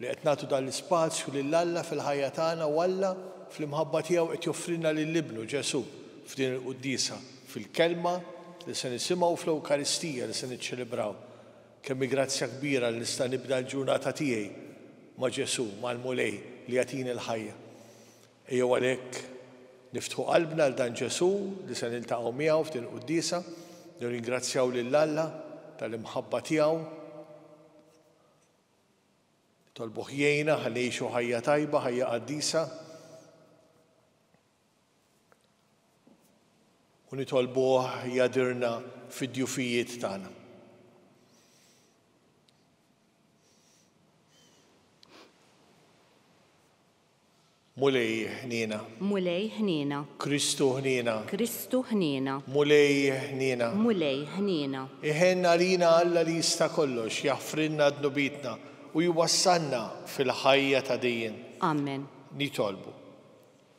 li qed nagħtu dan l-ispazju lil Alla fil-ħajja tagħna u Alla, fl-imħabba tiegħu, qed joffrilna lil Ibnu, Ġesù, f'din il-quddiesa, fil-Kelma li se nisimgħu u fl-Ewkaristija li se niċċelebraw. Kemm hi grazzja kbira li nista' nibda l-ġurnata tiegħi ma' Ġesù, mal-Mulej li jagħtini l-ħajja. Ejjew għalhekk niftħu qalbna għal dan Ġesù li se niltaqgħu miegħu f'din il-quddiesa, nirringrazzjaw lil Alla tal-imħabba tiegħu, Nitolbuh jgħinna ħalli ngħixu ħajja tajba, ħajja qaddisa. U nitolbuh jgħadirna fid-djufijiet tagħna. Mulej ħniena. Mulej ħniena. Kristu ħniena. Kristu ħniena. Mulej ħniena. Mulej ħniena. Iħenn għalina Alla li jista' kollox, jaħfrilna dnubietna u jwassalna fil-ħajja ta' dejjem. Amen. Nitolbu.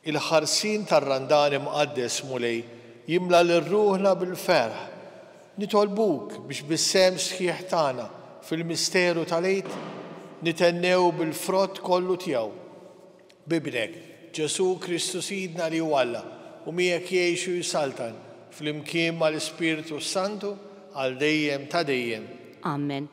Il-ħarsien tar-Randan Imqaddes, Mulej, jimla lil ruħna bil-ferħ. Nitolbuk biex bis-sehem sħiħ tagħna fil-misteru tal-Għid nithennew bil-frott kollu tiegħu. B'Ibnek, Ġesù Kristu Sidna li hu Alla u miegħek jgħix u jsaltan flimkien mal-Ispirtu s-Santu għal dejjem ta' dejjem. Amen.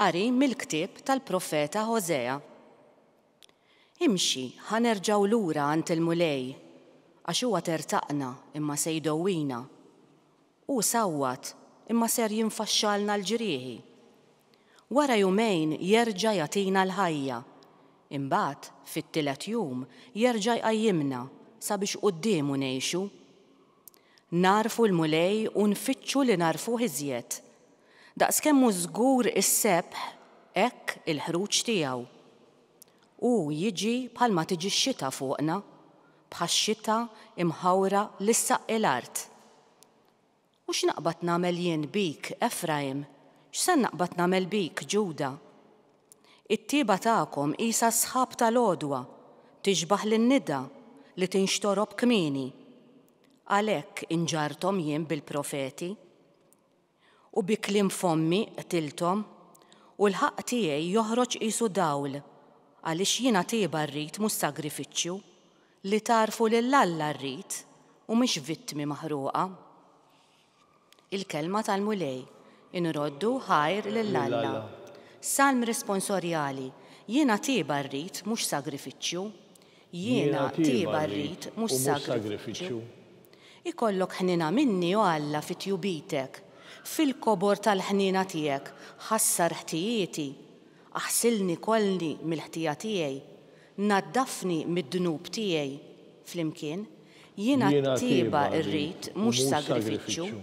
Qari mill-ktieb tal-profeta Ħożea. Imxi, ħa nerġgħu lura għand il-Mulej, għax huwa tertaqna imma se jdowwina. Hu sawwat imma ser jinfaxxalna l-ġrieħi. Wara jumejn jerġa' jagħtina l-ħajja. Imbagħad, fit-tielet jum, jerġa' jqajjimna sabiex quddiemu ngħixu. Nagħrfu l-Mulej u nfittxu li nagħrfuh iżjed. Daqskemm hu żgur is-sebħ, hekk il-ħruġ tiegħu. Hu jiġi bħalma tiġi x-xita fuqna, bħax-xita imħawra li ssaqqi l-art. U x'naqbad nagħmel jien bik, Efrajm? X'se naqbad nagħmel bik, Ġuda? It-tieba tagħkom qisha s-sħab tal-għodwa, tixbah lin-nida li tinxtorob kmieni. Għalhekk inġarrthom jien bil-profeti, u bi kliem fommi qtilthom, u l-ħaqq tiegħi joħroġ qisu dawl, għaliex jiena tieba rrid mhux sagrifiċċju, Li tagħrfu lil Alla rrid u mhix vittmi maħruqa. Il-Kelma tal-Mulej, Inroddu ħajr lil Alla. Salm Responsorjali, Jiena tieba rrid mhux sagrifiċċju. Jiena tieba rrid mhux sagrifiċċju. Ikollok ħniena minni, o Alla, fi tjubitek, fil-kobor tal-ħniena tiegħek ħassar ħtijieti, aħsilni kollni mill-ħtija tiegħi, Naddafni mid-dnub tiegħi flimkien, jiena t-tjieba rrid, mhux sagrifiċċju,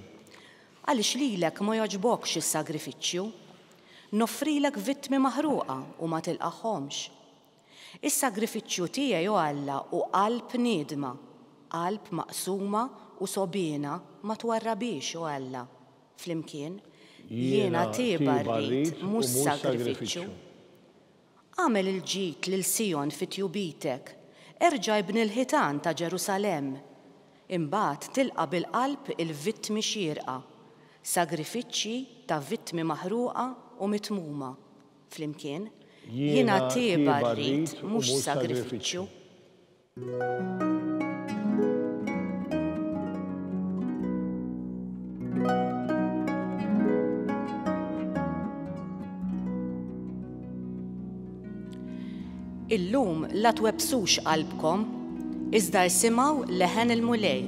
għaliex lilek ma jogħġbokx is-sagrifiċċju. Noffrilek vittmi maħruqa u ma tilqagħhomx. Is-sagrifiċċju tiegħi, o Alla, hu qalb niedma, qalb maqsuma u sogħbiena ma twarrabhiex, o Alla, flimkien, jiena t-tjieba rrid, mhux sagrifiċċju. Agħmel il-ġid lil Sijon fi tjubitek, erġa' ibni l-ħitan ta' Ġerusalemm. Imbagħad tilqa' bil-qalb il-vittmi xierqa, sagrifiċċji ta' vittmi maħruqa u mitmuma. Flimkien, Jiena tieba rrid, mhux sagrifiċċju. Illum la twebsux qalbkom, iżda rsimaw leħen il-mulej.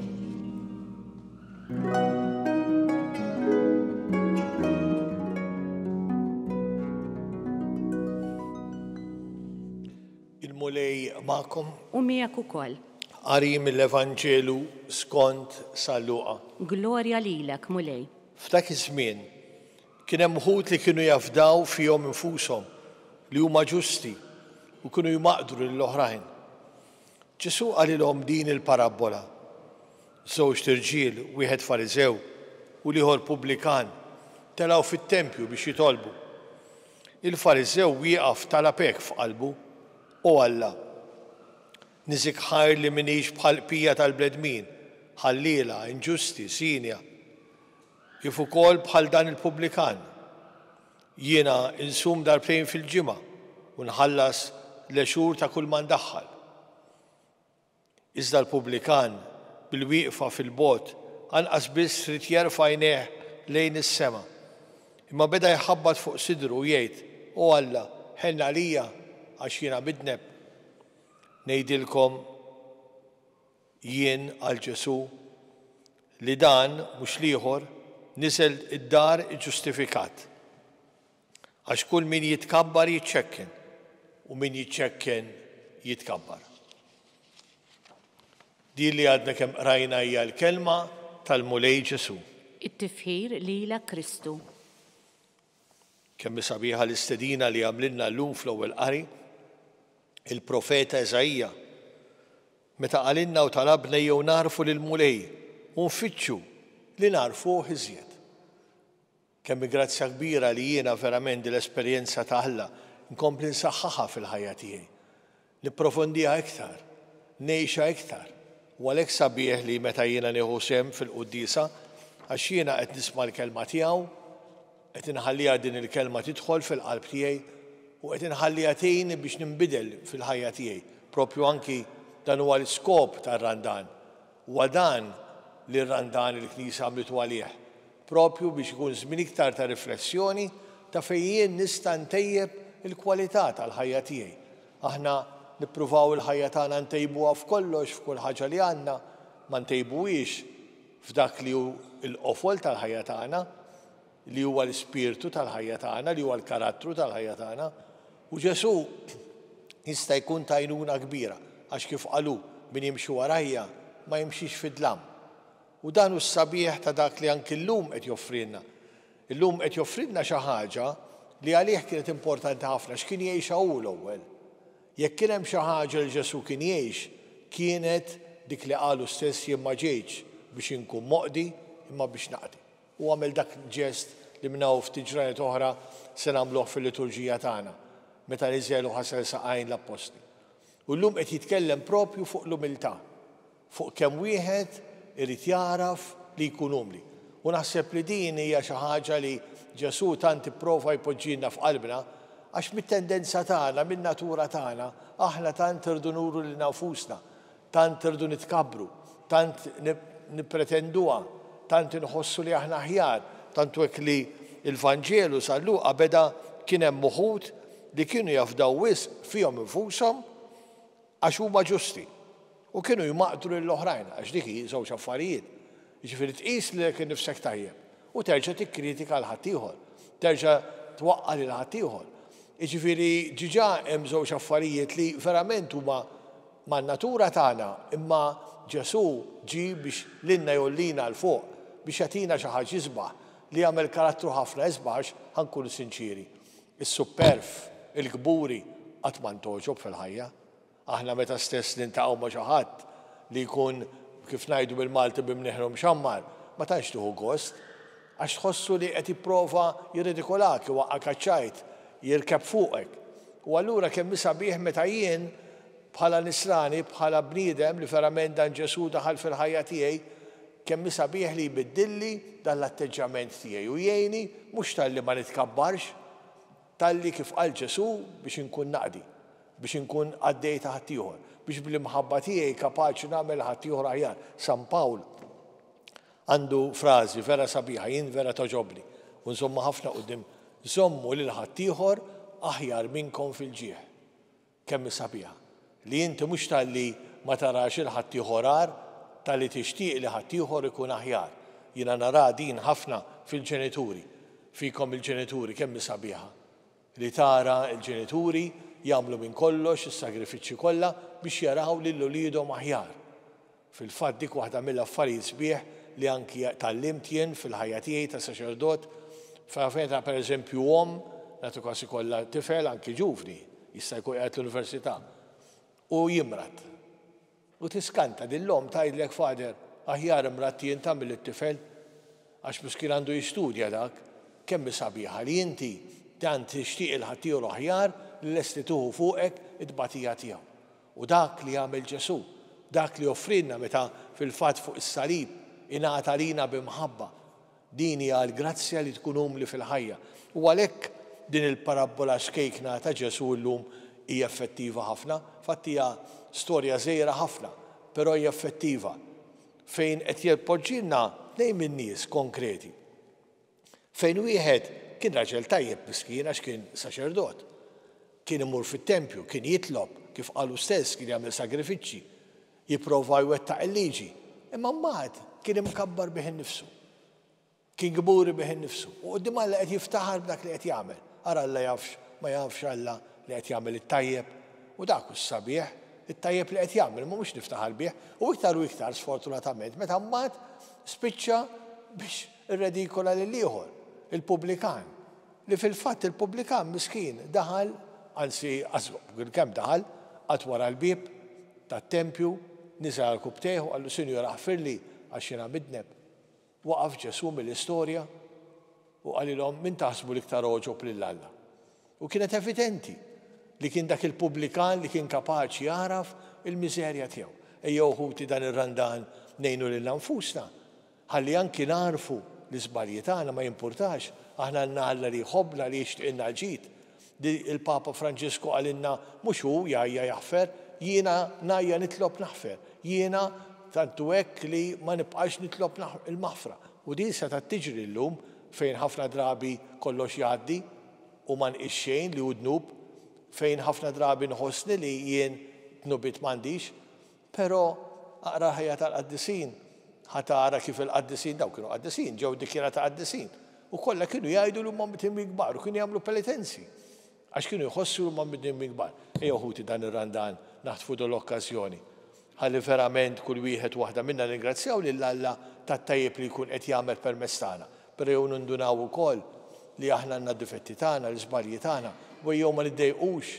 Il-Mulej magħkom. U miegħek ukoll. Qari mill-Evanġelu skond San Luqa. Glorja lilek, Mulej. F'dak iż-żmien, kien hemm wħud li kienu jafdaw fihom infushom li huma ġusti u kienu jmaqdru lil oħrajn. Ġesù qalilhom din il-parabbola, Żewġt irġiel, wieħed Fariżew u l-ieħor pubblikan, telgħu fit-tempju biex jitolbu. Il-Fariżew wieqaf talab hekk f'qalbu, O Alla, niżik ħajr li m'iniex bħall-bqija tal-bnedmin, ħalliela, inġusti, sinja, kif ukoll bħal dan il-pubblikan. Jiena insum darbtejn fil-ġimgħa u nħallas l-għexur ta' kull ma ndaħħal. Iżda l-pubblikan, bil-wieqfa fil-bogħod, anqas biss ried jerfa' għajnejh lejn is-sema, imma beda jħabbat fuq sidru u jgħid, O Alla, ħenn għalija, għax jiena midneb. Ngħidilkom jien, qal Ġesù, li dan, mhux l-ieħor, niżel id-dar iġġustifikat. Għax kull min jitkabbar jiċċekken, u min jiċċekken jitkabbar. Din li għadna kemm qrajna hija l-kelma tal-Mulej Ġesu. It-tifħir lilek Kristu. Kemm hi sabiħa l-istedina li għamlilna llum fl-ewwel qari, il-profeta Eżaija, meta qalilna u talabna jew narfu lill-Mulej u nfittxu li narfuh iżjed. Kemm hi grazzja kbira li jiena verament din l-esperjenza ta' Alla nkompli nsaħħaħha fil-ħajja tiegħi, nipprofondiha iktar, ngħixha iktar. U għalhekk sabiħ li meta jiena nieħu sehem fil-quddiesa, għax jiena qed nisma' l-Kelma tiegħu, qed inħalliha din il-Kelma tidħol fil-qalb tiegħi u qed inħalliha tgħinni biex ninbidel fil-ħajja tiegħi, propju anki dan huwa l-iskop tar-Randan, Huwa dan li r-Randan il-Knisja għamlitu għalih, propju biex ikun żmien iktar ta' riflessjoni ta' fejn jien nista' ntejjeb il-kwalità tal-ħajja tiegħi. Aħna nippruvaw il-ħajja tagħna ntejbuha f'kollox, f'kull ħaġa li għandna, ma ntejbuhiex f'dak li hu l-qofol tal-ħajja tagħna. li huwa l-ispirtu tal-ħajja tagħna, li huwa l-karattru tal-ħajja tagħna, u Ġesù jista' jkun tajnuna kbira għax kif qalu min jimxi warajja ma jimxix fid-dlam. U dan hu s-sabiħ ta' dak li anki llum qed joffrilna. Illum qed joffrilna xi ħaġa li għalih kienet importanti ħafna x'kien jgħixha hu l-ewwel. Jekk kien hemm xi ħaġa li Ġesù kien jgħix kienet dik li qalu stess jien ma ġejtx biex inkun moqdi imma biex naqdi. u għamel dak ġest li minn hawn ftit ġranet oħra se nagħmluh fil-liturġija tagħna, meta niżel u ħasel saqajn l-appostli. U llum qed jitkellem proprju fuq l-umiltà, fuq kemm wieħed irid jagħraf li jkun umli. U naħseb li din hija xi ħaġa li Ġesù tant ipprova jpoġġilna f'qalbna, għax mit-tendenza tagħna, min-natura tagħna, aħna tant irridu nuru lilna nfusna Tant irridu nitkabbru, tant nippretenduha, tant inħossu li aħna aħjar, tant hu hekk li l-Vanġelu sa Luqa beda kien hemm uħud li kienu jafdaw wisq fihom infushom għax huma ġusti u kienu jmaqdru lill-oħrajn, għax dik hi żewġ affarijiet, Jiġifieri tqis lilek innifsek tajjeb u terġa' tikkritika lil ħaddieħor, terġa' twaqqa' lil ħaddieħor. Jiġifieri diġà hemm żewġ affarijiet li verament huma man-natura tagħna, imma Ġesù ġie biex lilna jgħollina 'l fuq, biex jagħtina xi ħaġa isbaħ, li jagħmel karattru ħafna isbaħ għax, ħa nkunu sinċieri, is-supperv, il-kburi qatt ma ntgħoġob fil-ħajja. Aħna meta stess niltaqgħu ma' xi ħadd li jkun, kif ngħidu bil-Malti bi mnieħru mxammar, ma tantx tieħu gost. Għax tħossu li qed jipprova jirredikolak, iwaqqgħek għaċ-ċajt, jirkeb fuqek. U allura kemm hi sabiħ meta jien, bħala nisrani, bħala bniedem li verament dan Ġesù daħal fil-ħajja tiegħi, kemm hi sabiħ li jbiddilli dan l-atteġġjament tiegħi u jgħinni, mhux talli ma nitkabbarx, Talli, kif qal Ġesù, biex inkun naqdi, biex inkun qaddej ta' ħaddieħor, biex bl-imħabba tiegħi kapaċi nagħmel ħaddieħor aħjar. San Pawl għandu frażi vera sabiħa, jien vera togħġobni u nżommha ħafna quddiem, Żommu lil ħaddieħor aħjar minnkom fil-ġieħ. Kemm hi sabiħa li inti mhux talli ma tarax 'il ħaddieħor agħar, talli tixtieq li ħaddieħor ikun aħjar. Jiena naraha din ħafna fil-ġenituri, fikom il-ġenituri kemm hi sabiħa li tara l-ġenituri jagħmlu minn kollox, is-sagrifiċċji kollha biex jaraw lil uliedhom aħjar. Fil-fatt dik waħda mill-affarijiet sbieħ li anki tgħallimt jien fil-ħajja tiegħi ta' saċerdot. Taf meta pereżempju omm, nagħti każ ikollha tifel anki ġuvni, jista' jkun qiegħed l-università, u jimrad. U tiskanta din l-omm tgħidlek Father, aħjar imradt jien ta' milli t-tifel. Għax miskien għandu jistudja dak. Kemm hi sabiħa li inti tant tixtieq il-ħaddieħor aħjar li lest li tieħu fuqek it-tbatija tiegħu. U dak li għamel Ġesù, dak li offrielna meta fil-fatt fuq is-salib ingħata lina bi mħabba, din hija l-grazzja li tkun umli fil-ħajja. U għalhekk din il-parabbola xkejkna ta' Ġesù llum hi effettiva ħafna. Fatt hija storja żgħira ħafna, però hi effettiva fejn qed jpoġġilna tnejn min-nies konkreti. Fejn wieħed kien raġel tajjeb miskin għax kien saċerdot. Kien imur fit-tempju, kien jitlob, kif qal hu stess, kien jagħmel sagrifiċċji, jipprova jwettaq il-liġi. Imma mbagħad kien imkabbar bih innifsu. Kien kburi bih innifsu. U quddiem Alla qed jiftaħar b'dak li qed jagħmel. Ara Alla jafx, ma jafx Alla li qed jagħmel it-tajjeb. U dak hu s-sabiħ, it-tajjeb li qed jagħmel, ma mhux niftaħar bih. U iktar u iktar, sfortunatament, meta mbagħad spiċċa biex Irredikola lil ieħor, il-pubblikan, li fil-fatt il-pubblikan miskin daħal, anzi kemm daħal, qagħad wara l-bieb tat-tempju, niżel għal rkubtejh u qallu, Sinjur aħfirli għax jiena midneb. Waqaf Ġesù mill-istorja u qalilhom, Min taħsbu l-iktar għoġob lil Alla? U kienet evidenti li kien dak il-pubblikan li kien kapaċi jagħraf il-miżerja tiegħu. Ejjew ħuti dan ir-Randan ngħinu lilna nfusna Ħalli anki nagħrfu l-iżbalji tagħna, ma jimpurtax, aħna għandna Alla li jħobbna, li jixtiqilna l-ġid. Il-Papa Franġisku qalilna mhux hu jgħajja jaħfer, jiena ngħajja nitlob naħfer. Jiena tantu hekk li ma nibqax nitlob il-maħfra. U din setgħet tiġri llum fejn ħafna drabi kollox jgħaddi u ma nqis xejn li hu dnub, fejn ħafna drabi nħossni li jien dnubiet m'għandix. Però, aqra l-ħajja tal-qaddisin, ħa tara kif il-qaddisin, dawn kienu qaddisin, ġew dikjarati qaddisin, u kollha kienu jgħidu li huma mdimmi kbar u kienu jagħmlu penitenzi għax kienu jħossu li huma mdimmi kbar. Ejjew ħuti dan ir-Randan naħtfu din l-okkażjoni ħalli verament kull wieħed u waħda minna nirringrazzjaw lil Alla tat-tajjeb li jkun qed jagħmel permezz tagħna. Però jew nindunaw ukoll li aħna għandna d-difetti tagħna, l-iżbalji tagħna, u ejjew ma niddejqux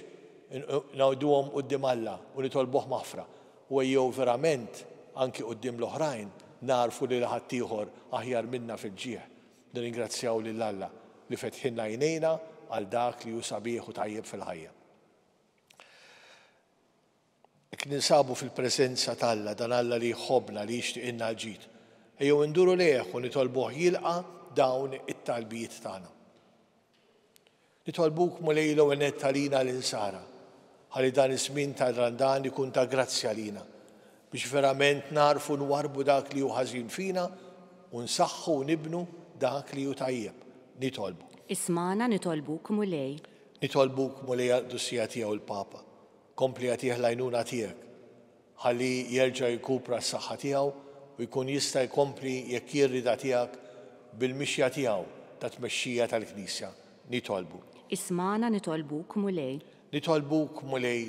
ngħiduhom quddiem Alla u nitolbuh maħfra, u ejjew verament, anki quddiem l-oħrajn, nagħrfu li la ħaddieħor aħjar minna fil-ġieħ. Nirringrazzjaw lil Alla li fetħilna għajnejna għal dak li hu sabiħ u tajjeb fil-ħajja. Jekk ninsabu fil-preżenza ta' Alla, dan Alla li jħobbna, li jixtiqilna l-ġid, ejjew induru lejh u nitolbuh jilqa' dawn it-talbiet tagħna. Nitolbuk, Mulej, l-ewwel nett għalina l-insara, ħalli dan iż-żmien tar-Randan ikun ta' grazzja lina, biex verament nagħrfu nwarbu dak li hu ħażin fina u nsaħħu u nibnu dak li hu tajjeb. Nitolbuk. Ismagħna nitolbuk, Mulej. Nitolbuk, Mulej, għall-Qdusija Tiegħu l-Papa, Kompli agħtih l-għajnuna tiegħek ħalli jerġa' jirkupra s-saħħa tiegħu u jkun jista' jkompli jekk hi r-rieda tiegħek bil-mixja tiegħu ta' tmexxija tal-Knisja. Nitolbuk. Ismagħna nitolbuk, Mulej. Nitolbuk, Mulej,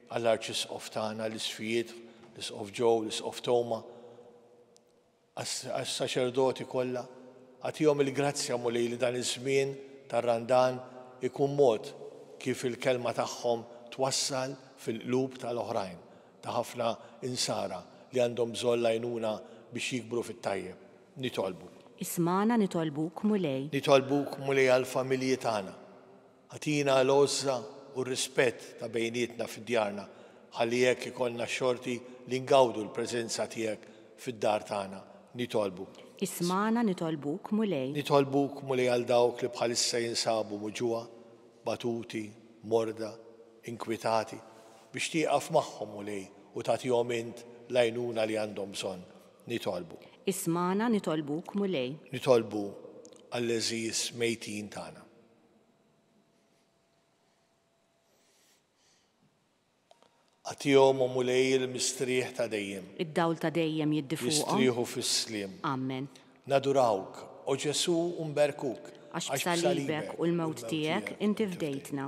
għall-Arċisqof tagħna, l-Isqfijiet, l-Isqof Joe, l-Isqof Toma, għas-saċerdoti kollha, agħtihom il-grazzja, Mulej, li dan iż-żmien tar-Randan ikun mod kif il-kelma tagħhom twassal fil-qlub ta' l-oħrajn, ta' ħafna Insara li għandhom bżonn l-għajnuna biex jikbru fit-tajjeb. Nitolbu. Ismagħna nitolbuk, Mulej. Nitolbuk, Mulej, għall-familji tagħna. Agħtina l-għożża u r-rispett ta' bejnietna fi djarna ħalli hekk ikollna x-xorti li ngawdu l-preżenza tiegħek fid-dar tagħna. Nitolbu. Ismagħna nitolbuk, Mulej. Nitolbuk, Mulej għal dawk li bħalissa jinsabu muġugħa, batuti, morda, inkwitati, biex tieqaf magħhom, Mulej, u tagħtihom int l-għajnuna li għandhom bżonn. Nitolbu. Ismagħna nitolbuk, Mulej. Nitolbu għall-għeżież mejtin tagħna. Agħtihom, O Mulej, il-mistrieħ ta' dejjem. Id-dawl ta' dejjem jiddi fuqhom. Jistrieħu fis-sliem. Amen. Nadurawk, O Ġesù, u nberkuk. Għax b'salibek u l-mewt tiegħek inti fdejtna.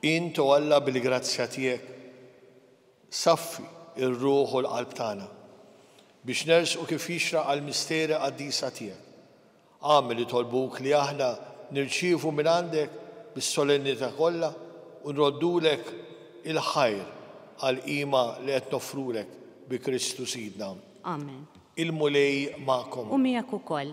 Int, O Alla, bil-grazzja tiegħek saffi r-ruħ u l-qalb tagħna, biex nersqu kif jixraq għall-misteri qaddisa tiegħek. Agħmel, nitolbuk, li aħna nirċievu mingħandek bis-solennità kollha u nroddulek il-ħajr għall-qima li qed noffrulek bi Kristu Sidna. Amen. Il-Mulej magħkom. U miegħek ukoll.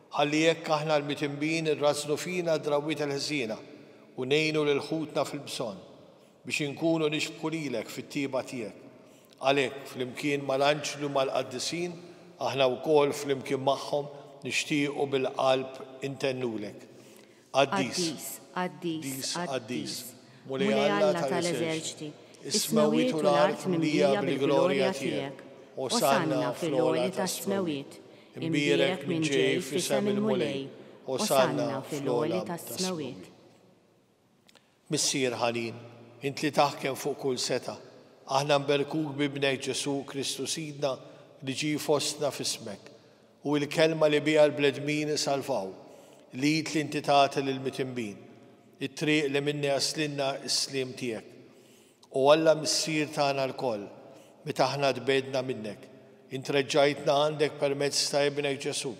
Ħalli hekk aħna l-mitnbin irrażżnu fina d-drawwiet il-ħżiena u ngħinu lil ħutna fil-bżonn, biex inkunu nixbħu lilek fit-tjieba tiegħek. Għalhekk, flimkien mal-anġli u mal-qaddisin, aħna wkoll flimkien magħhom nixtiequ bil-qalb intennulek. Qaddis, qaddis, qaddis, Mulej Alla tal-eżerċti, is-smewwiet u l-art mimlija bil-glorja tiegħek. Osanna fil-għoli tas-smewwiet, imbierek min ġej f'isem il-Mulej, osanna fl-għoli tas-smewwiet. Missier ħanin, int li taħkem fuq kull setgħa, aħna nberkuk b'Ibnek Ġesù Kristu Sidna li ġie fostna f'ismek. Hu il-Kelma li biha l-bledmin isalvaw, l-id li inti tagħti lill-mitinbin, it-triq li minnha jaslilna s-sliem tiegħek. O Alla Missier tagħna lkoll, meta aħna tbegħdna minnek, int reġġajtna għandek permezz ta' Ibnek Ġesù,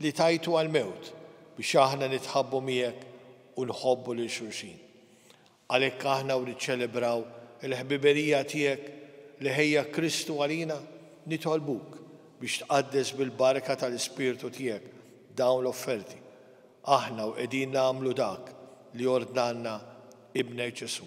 li tajtu għall-mewt biex aħna nitħabbu miegħek u nħobbu lil xulxin. Għalhekk aħna u niċċelebraw il-ħbiberija tiegħek li ħejja Kristu għalina, nitolbuk biex tqaddes bil-barka tal-Ispirtu tiegħek dawn l-offerti, aħna u qegħdin nagħmlu dak li ordnalna Ibnek Ġesù.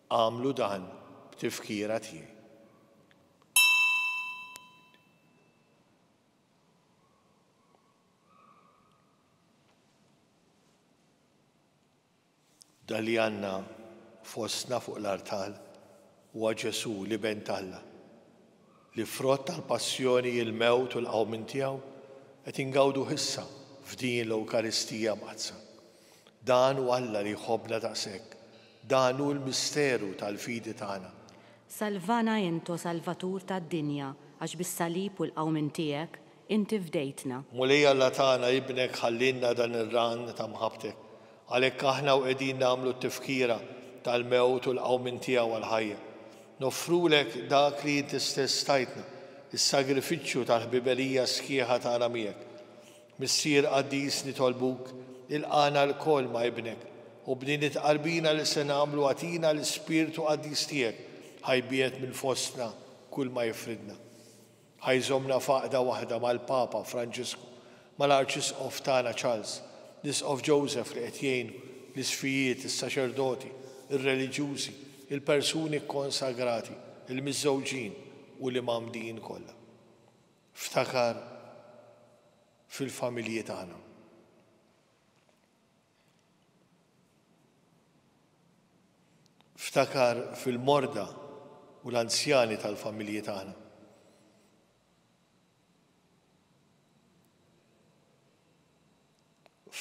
Agħmlu dan b'tifkira tiegħi. Dan li għandna fostna fuq l-artal huwa Ġesù, l-Iben t'Alla. li frott tal-passjoni, il-mewt u l-qawmien tiegħu, qed ingawduh issa f'din l-Ewkaristija Mqaddsa. Dan hu Alla li jħobbna daqshekk, dan hu l-misteru tal-fidi tagħna. Salvana int, O Salvatur tad-dinja, għax bis-salib u l-qawmien tiegħek, Inti fdejtna. Mulej Alla tagħna, Ibnek ħallielna dan ir-ran ta' mħabbtek. Għalhekk aħna u qegħdin nagħmlu t-tifkira tal-mewt u l-qawmien tiegħu għall-ħajja, noffrulek dak li inti stess tajtna, is-sagrifiċċju tal-ħbiberija sħiħa tagħna miegħek. Missier qaddis nitolbuk, ilqagħna lkoll ma' Ibnek, u b'din it-tqarbina li se nagħmlu agħtina l-ispirtu qaddis tiegħek, ħajbiet minn fostna kull ma jifridna. Ħa jżommna f'għaqda waħda mal-Papa Franġisku, mal-Arċisqof tagħna Charles, l-Isqof Joseph li qed jgħin l-isqfijiet, is-saċerdoti, ir-reliġjużi, il-persuni kkonsagrati, il-miżżewġin u l-imgħammdin kollha. Ftakar fil-familji tagħna. Ftakar fil-morda u l-anzjani tal-familji tagħna.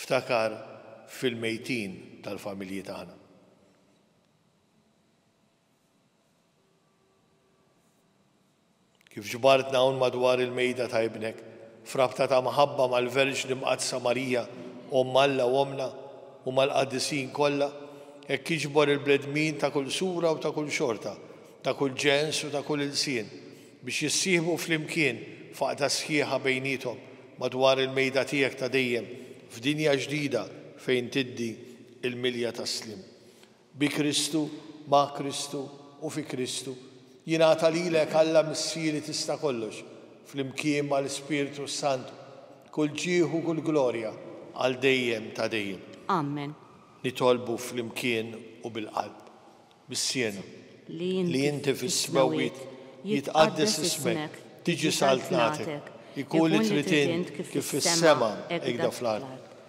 Ftakar fil-mejtin tal-familji tagħna. Kif ġbartna hawn madwar il-mejda ta' Ibnek, f'rabta ta' mħabba mal-Verġni Mqaddsa Marija, Omm Alla u Ommna, u mal-qaddisin kollha, hekk iġbor il-bnedmin ta' kull sura u ta' kull xorta, ta' kull ġens u ta' kull ilsien, biex jissieħbu flimkien f'għaqda sħiħa bejniethom madwar il-mejda tiegħek ta' dejjem, f'dinja ġdida fejn tiddi l-milja tas-sliem. Bi Kristu, ma' Kristu u fi Kristu, jingħata lilek Alla Missieri Tista' Kollox, flimkien mal-Ispirtu s-Santu, kull ġieħ u kull glorja għal dejjem ta' dejjem. Amen. Nitolbu flimkien u bil-qalb. Missierna, li inti fis-smewwiet, jitqaddes ismek, tiġi saltnatek, ikun li trid int kif fis-sema hekda fl-art.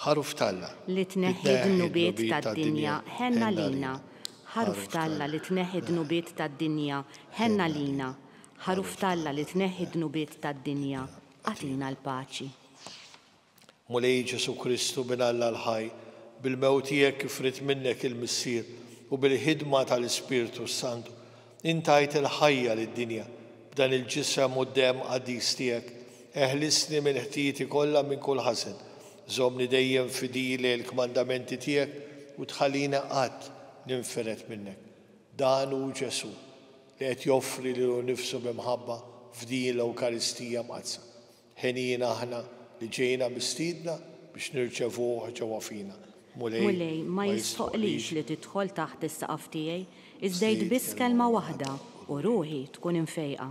Ħaruf t'Alla. Li tneħħi d-dnubiet tad-dinja, ħenn għalina. Ħaruf t'Alla li tneħħi d-dnubiet tad-dinja, ħenn għalina. Ħaruf t'Alla li tneħħi d-dnubiet tad-dinja, agħtina l-paċi. Mulej Ġesù Kristu, Bin Alla l-ħaj, bil-mewt tiegħek kif ried minnek il-Missier u bil-ħidma tal-Ispirtu s-Santu, Int tajt il-ħajja lid-dinja b'dan il-ġisem u d-demm qaddis tiegħek. Eħlisni minn ħtijieti kollha minn kull ħażen. Żommni dejjem fidili għall-kmandamenti tiegħek u tħallini qatt ninfired minnek. Dan hu Ġesù, li qed joffri lilu nnifsu bi mħabba f'din l-Ewkaristija Mqaddsa. Henjina aħna li ġejna mistiedna biex nirċevuh ġewwa fina. Mulej, ma jistħoqqlix li tidħol taħt is-saqaf tiegħi, iżda għid biss kelma waħda, u ruħi tkun imfejqa.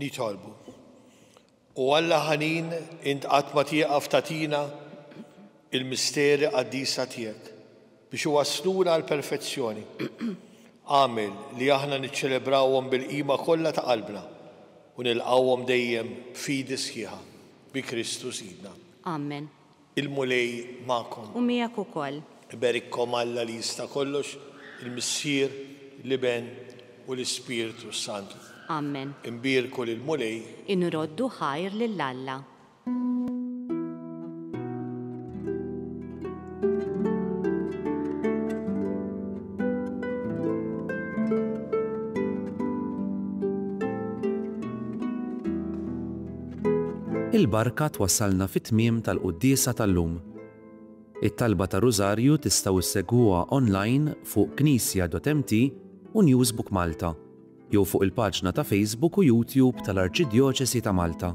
Nitolbu. O Alla ħanin, int qatt ma tieqaf tagħtina l-misteri qaddisa tiegħek biex iwassluna għall-perfezzjoni. Agħmel li aħna niċċelebrawhom bil-qima kollha ta' qalbna u nilqgħuhom dejjem b'fidi sħiħa. Bi Kristu Sidna. Amen. Il-Mulej magħkom. U miegħek ukoll. Iberikkom Alla li jista' kollox, il-Missier, l-Iben, u l-Ispirtu s-Santu. Amen. Inbierku lill-Mulej. Inroddu ħajr lil Alla. Il-barka twassalna fit-tmiem tal-quddiesa tal-lum. It-talba tar-Rużarju tistgħu ssegwuha online fuq knisja.mt u Newsbook Malta jew fuq il-paġna ta' Facebook u YouTube tal-Arċidjoċesi ta' Malta.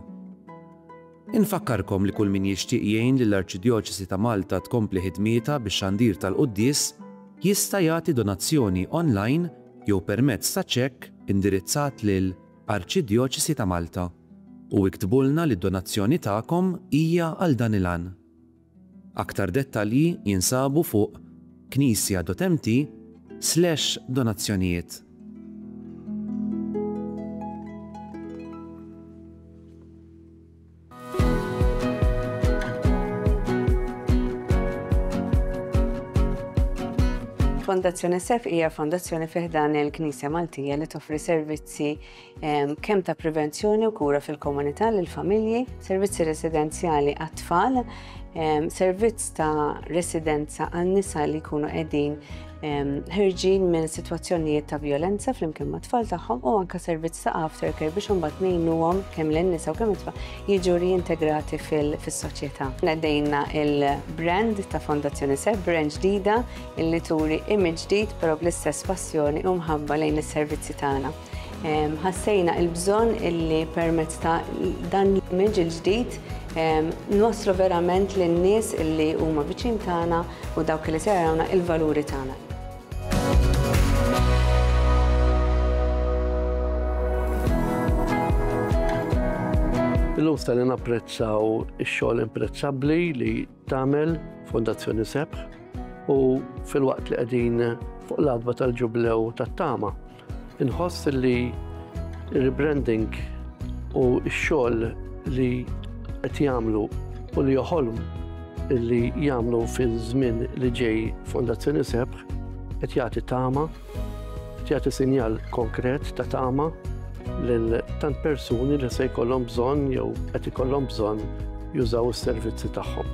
Infakkarkom li kull min jixtieq jgħin lill-Arċidjoċesi ta' Malta tkompli ħidmietha bix-xandir tal-quddies jista' jagħti donazzjoni online jew permezz ta' ċekk indirizzat lil Arċidjoċesi ta' Malta, u iktbulna li d-donazzjoni tagħkom hija għal dan il-għan. Aktar dettalji jinsabu fuq knisja.mt slash donazzjonijiet. Fondazzjoni Sef hija fondazzjoni fi ħdan il-Knisja Maltija li toffri servizzi ehm, kemm ta' prevenzjoni u kura fil-komunità lil familji, servizzi residenzjali għat-tfal, ehm, servizz ta' residenza għan nisa li jkunu qegħdin ħirġin minn sitwazzjonijiet ta' violenza flimkien ma' tfal tagħhom u anka servizz ta' aftercare biex imbagħad ngħinuhom kemm lin nisa u kemm it-tfal jiġu riintegrati fis-soċjetà. Nedejna il-brand ta' Fondazzjoni Seb brand ġdida illi turi image ġdid però bl-istess passjoni u mħabba lejn is-servizzi tagħna. Ħassejna il-bżonn illi permezz ta' dan l-image il-ġdid nwasslu verament lin-nies illi huma viċin tagħna u dawk li se jarawna il-valuri tagħna. Illum se napprezzaw ix-xogħol imprezzabbli li tagħmel Fondazzjoni Sebħ u filwaqt li qegħdin fuq l-adba tal-ġublew tat-tama. Inħoss li rebranding u x-xogħol li qed jagħmlu u li joħolm li jagħmlu fiż-żmien li ġej Fondazzjoni Sebħ qed jagħti tama Jagħti sinjal konkret ta' tama lil tant persuni li se jkollhom bżonn jew qed ikollhom bżonn jużaw is-servizzi tagħhom.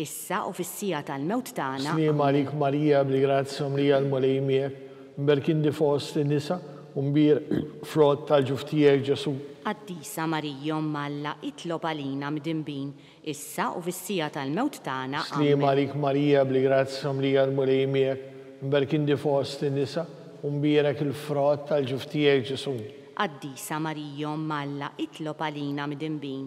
Issa u fis-siegħa tal-mewt tagħna. Sliema għalik Marija bli grazzja mlija l-Mulej miegħek, mberk inti fost in-nisa u mbierk frott tal-ġuf tiegħek Ġesu. Qaddisa Marija Omm Alla itlob għalina mdinbin, issa u fis-siegħa tal-mewt tagħna. Amen. Sliema għalik Marija bli grazzja mlija l-Mulej miegħek, mberk inti fost in-nisa u mbierek il-frott tal-ġuf tiegħek Ġesu. Qaddisa Marija Omm Alla itlob għalina mdinbin,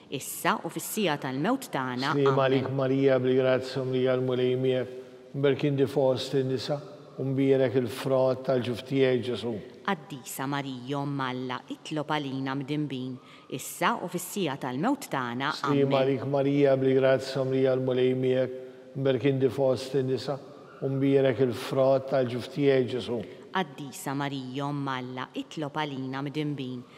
Issa u fis-siegħa tal-mewt tagħna. Sliema għalik Marija bl grazzja mlija l Mulej miegħek, mberk inti fost in nisa, u mbierek il frott tal ġuf tiegħek Ġesu. Qaddisa Marija omm Alla itlob għalina mdinbin, issa u fis-siegħa tal-mewt tagħna. Sliema għalik Marija bl grazzja mlija l Mulej miegħek, mberk inti fost in nisa, u mbierek il frott tal ġuf tiegħek Ġesu. Qaddisa Marija omm Alla itlob għalina mdinbin,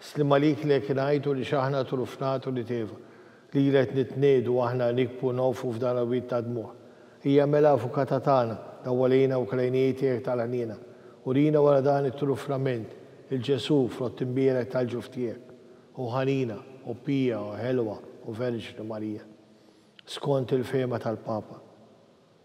Sliem għalik li hekk ngħid u li x'aħna trufnat u li tgħiba. Lilha qed nitniegħdu aħna nikbu u nogħfu f'dan għawid tad-dmugħ. Hija mela avukata tagħna, dawwalina u krajnijiet tiegħek tal ħniena. Urina wara dan it-trufnament, il-Ġesù, frott imbierek tal-ġuf tiegħek. O ħanina, o pija, o ħelwa, o Verġni Marija. Skont il-fehma tal-Papa.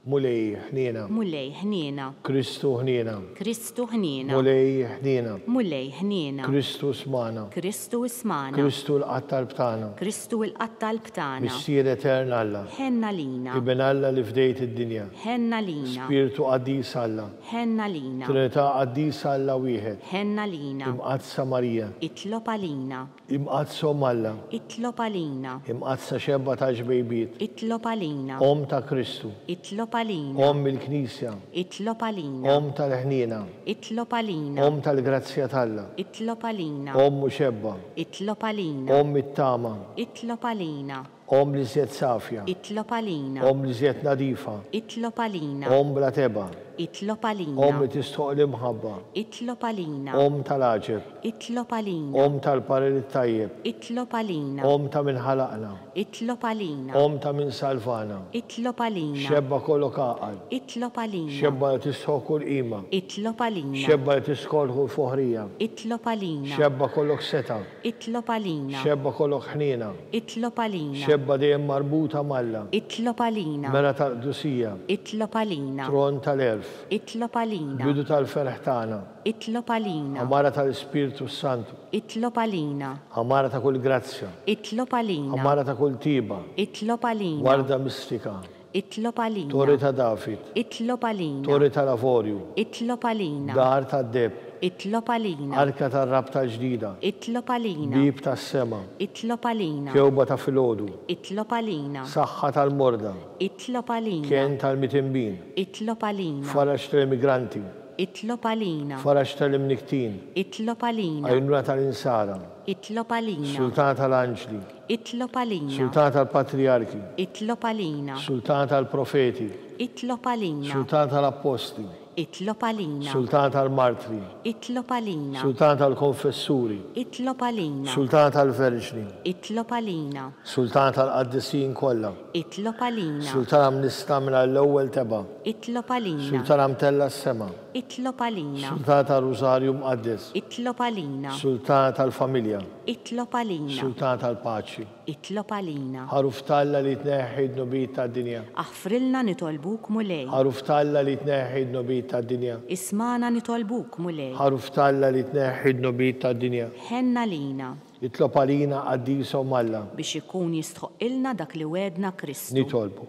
Mulej ħniena. Mulej ħniena. Kristu ħniena. Kristu ħniena. Mulej ħniena. Mulej ħniena. Kristu ismagħna. Kristu ismagħna. Kristu l-Qattalb tagħna. Kristu l-Qattalb tagħna. Missier Etern Alla. Ħenn għalina. Iben Alla li fdejt id-dinja. Ħenn għalina. Spirtu Qaddis Alla. Ħenn għalina. Trinità Qaddisa Alla Wieħed. Ħenn għalina. Imqaddsa Marija. Itlob għalina. Imqaddsa Omm Alla. Itlob għalina. Imqaddsa Xebgħa tax-xbejbiet. Itlob għalina. Omm ta' Kristu. Itlob għalina. Omm il-Knisja. Itlob għalina. Omm tal-ħniena. Itlob għalina. Omm tal-grazzja t'Alla. Itlob għalina. Omm u Xebgħa. Itlob għalina. Omm it-tama. Itlob għalina. Omm l iżjed safja. Itlob għalina. Omm l iżjed nadifa. Itlob għalina. Omm bla tebgħa. Itlob għalina. Omm li tistħoqq l-imħabba. Itlob għalina. Omm ta' l-għaġeb. Itlob għalina. Omm tal-parir it-tajjeb. Itlob għalina. Omm ta' min ħalaqna. Itlob għalina. Omm ta' min salvana. Itlob għalina. Xebba kollok għaqal. Itlob għalina. Xebba li tistħoqq kull qima. Itlob għalina. Xebba li tistħoqq kull foħrija. Itlob għalina. Xebba kollok setgħa. Itlob għalina. Xebgħa kolok ħniena. Itlob għalina. Xebgħa dejjem marbuta m'Alla. Itlob għalina. Mera tal-qdusija. Itlob għalina. Tron tal-għerf. Itlob għalina. Bidu tal-ferħ tagħna. Itlob għalina. Għamara tal-Ispirtu s-Santu. Itlob għalina. Għamara ta' kull grazzja. Itlob għalina. Għamara ta' kull tjieba. Itlob għalina. Warda mistika. Itlob għalina. Torri ta' David. Itlob għalina. Torri tal-avorju. Itlob għalina. Dar tad-deheb. Itlob għalina. Arka tar-rabta l-ġdida. Itlob għalina. Bieb tas-sema. Itlob għalina. Kewba ta' filgħodu. Itlob għalina. Saħħa tal-morda. Itlob għalina. Kenn tal-mitinbin. Itlob għalina. Faraġ tal-immigranti. Itlob għalina. Faraġ tal-imnikktin. Itlob għalina. Għajnuna tal-insara. Itlob għalina. Sultan tal-anġli. Itlob għalina. Sultan tal-patrijarki. Itlob għalina. Sultan tal-profeti. Itlob għalina. Sultan tal-appostli. Itlob għalina. Sultan tal-martri. Itlob għalina. Sultan tal-konfessuri. Itlob għalina. Sultan tal-verġni. Itlob għalina. Sultan tal-qaddisin kollha. Itlob għalina. Sultan mnista mingħajr l-ewwel tebgħa. Itlob għalina. Sultan mtella s-sema. Itlob għalina. Sultana tar-Rużarju Mqaddes. Itlob għalina. Sultana tal-Familja. Itlob għalina. Sultana tal-Paċi. Itlob għalina. Għaruf t'Alla li tneħħi d-dnubiet tad-dinja. Aħfrilna nitolbuk Mulej. Għaruf t'Alla li tneħħi d-dnubiet tad-dinja. Ismagħna nitolbuk Mulej. Għaruf t'Alla li tneħħi d-dnubiet tad-dinja. Ħenn għalina. Itlob għalina Qaddisa Omm Alla. Biex ikun jistħoqqilna dak li wegħedna Kristu. Nitolbu.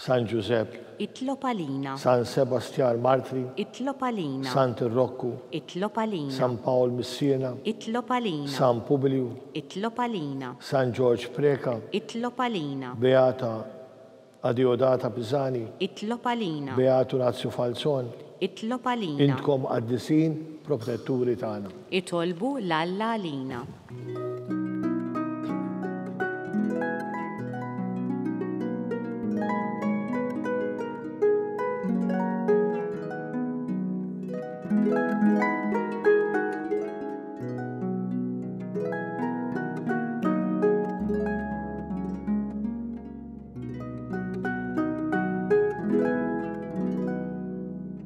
San Ġużepp. Itlob għalina. San Sebastjan Martri. Itlob għalina. Sant Rokku. Itlob għalina. San Pawl Missina. Itlob għalina. San Pubilju. Itlob għalina. San Ġorġ Preca. Itlob għalina. Beata Adeodata Pisani. Itlob għalina. Beatu Nazju Falzon. Itlob għalina. Intkom qaddisin, protetturi tagħna. Itolbu 'l Alla għalina.